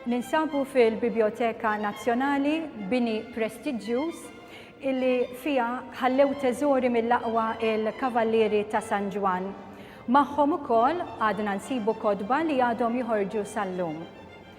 Ninsabu fil-Biblioteka Nazzjonali bini prestiġjuż illi fija ħallew teżori mill-aqwa il-Kavallieri ta' San Ġwan. Magħhom ukoll għadna nsibu kodba li għadhom joħorġu sal-lum.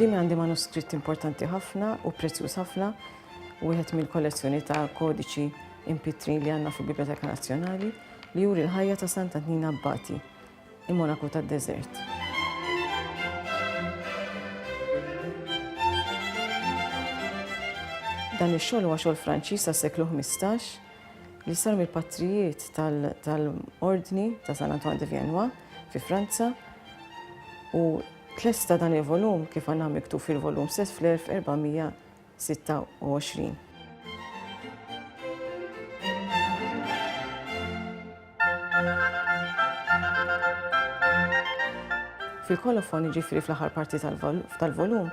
Quddiemi għandi manuskritt importanti ħafna u prezzjuż ħafna, wieħed mill-kollezzjoni ta' kodiċi impitrin li għandna fil-Biblioteka Nazzjonali, li juri l-ħajja ta' Santa Tnina Abbati, Il-monaku tad-deżert. Dan ix-xogħol huwa xogħol Franċiż tas-seklu 15 li sar mill-patrijiet tal-Ordni ta' San Antoine de Viennois fi Franza u tlesta dan il-volum kif għandna miktub fil-volum stess fl-1400 26. Fil-kolofon, jiġifieri fl-aħħar parti tal-volum,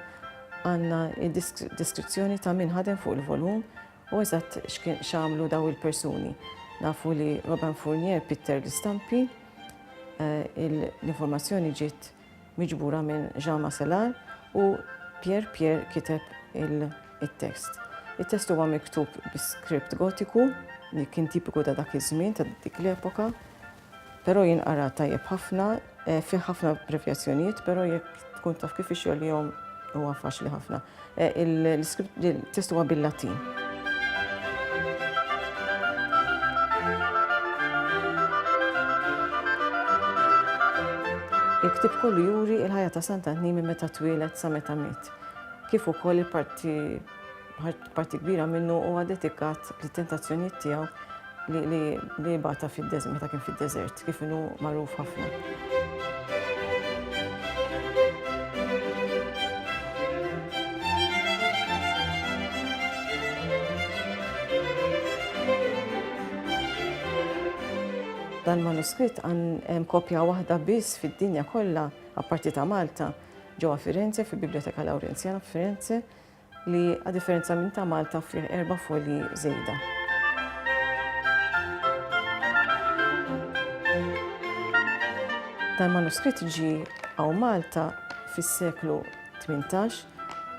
għandna d-deskrizzjoni ta' min ħadem fuq il-volum u eżatt x'għamlu dawn il-persuni. Nafu li Robin Fournier pitter l-istampi, l-informazzjoni ġiet miġbura minn Jean Macelard u Pierre Pierre kiteb it-test. It-test huwa miktub bi skript Gotiku li kien tipiku ta' dak iż-żmien ta' dik l-epoka, però jinqara tajjeb ħafna, eh, fih ħafna prevjazzjonijiet, però jekk tkun taf kif ix-xogħol jom huwa faċli ħafna. Il-test huwa bil-Latin. Il-ktieb kollu juri il-ħajja ta' Santa Ħnimi meta twieled sa meta miet. Kif ukoll il-parti parti kbira minnu huwa dedikat lit-tentazzjonijiet tiegħu li bata fid-deżert, meta kien fid-deżert, kif inhu magħruf ħafna. Dan manuskritt għan kopja waħda biss fid-dinja kollha, apparti ta' Malta, ġewwa Firenze, fil-Biblioteka Lawrenzjana f'Firenze, li a differenza minn ta' Malta fih erba' folji żejda. Dan manuskritt ġi għaw Malta fis-seklu 18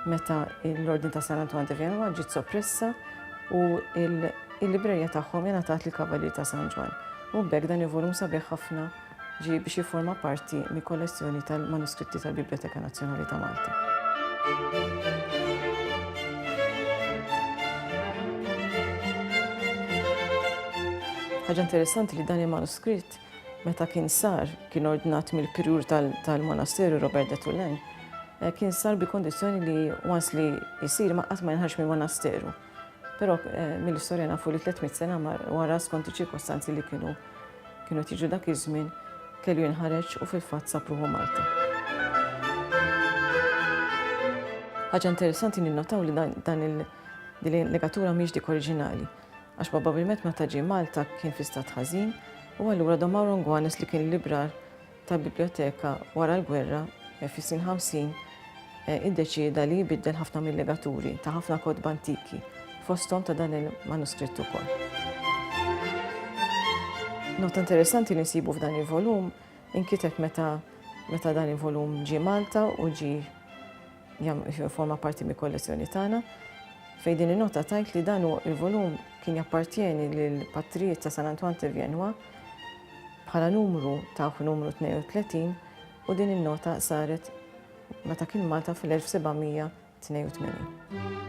meta l-Ordin ta' San Antoine de Vienna ġiet soppressa u il-librerja tagħhom ingħatat li kavalier ta' San Ġwan. U bekk dan il-volum sabiħ ħafna Ġie biex jifforma parti mill-kollezzjoni tal-manuskritti tal-Bibljoteka Nazzjonali ta' Malta. Ħaġa interessanti li dan il-manuskritt meta kien sar kien ordnat mill-pirur tal-monasteru Robert de Tullen eh, kien sar bi kondizjoni li once li jisir ma qatt ma jinħarx mill-monasteru. Però mill-istorja nafu li 300 sena wara skont iċ-ċirkostanzi li kienu kienu tiġu dak iż-żmien kellu jinħareġ u fil-fatt sapruħu Malta. Ħaġa interessanti ninnotaw li dan il- din il-legatura mhix dik oriġinali, għax probabilment meta ġie Malta kien fi stat ħażin u allura Don Mauro Ngwanes li kien librar ta' biblioteka wara l-gwerra, fis-snin 50, iddeċieda li jbiddel ħafna mil-legaturi ta' ħafna kotba antiki, fosthom ta' dan il-manuskritt ukoll. Nota interessanti li nsibu f'dan il-volum inkiteb meta dan il-volum ġie Malta u ġie Jifforma parti mill-kollezzjoni tagħna, fejn din in-nota tgħid li dan il-volum kien jappartjeni lill-Patrijiet ta' San Antoine de Viennois bħala numru ta' numru 32 u din in-nota saret meta kien Malta fl-1782.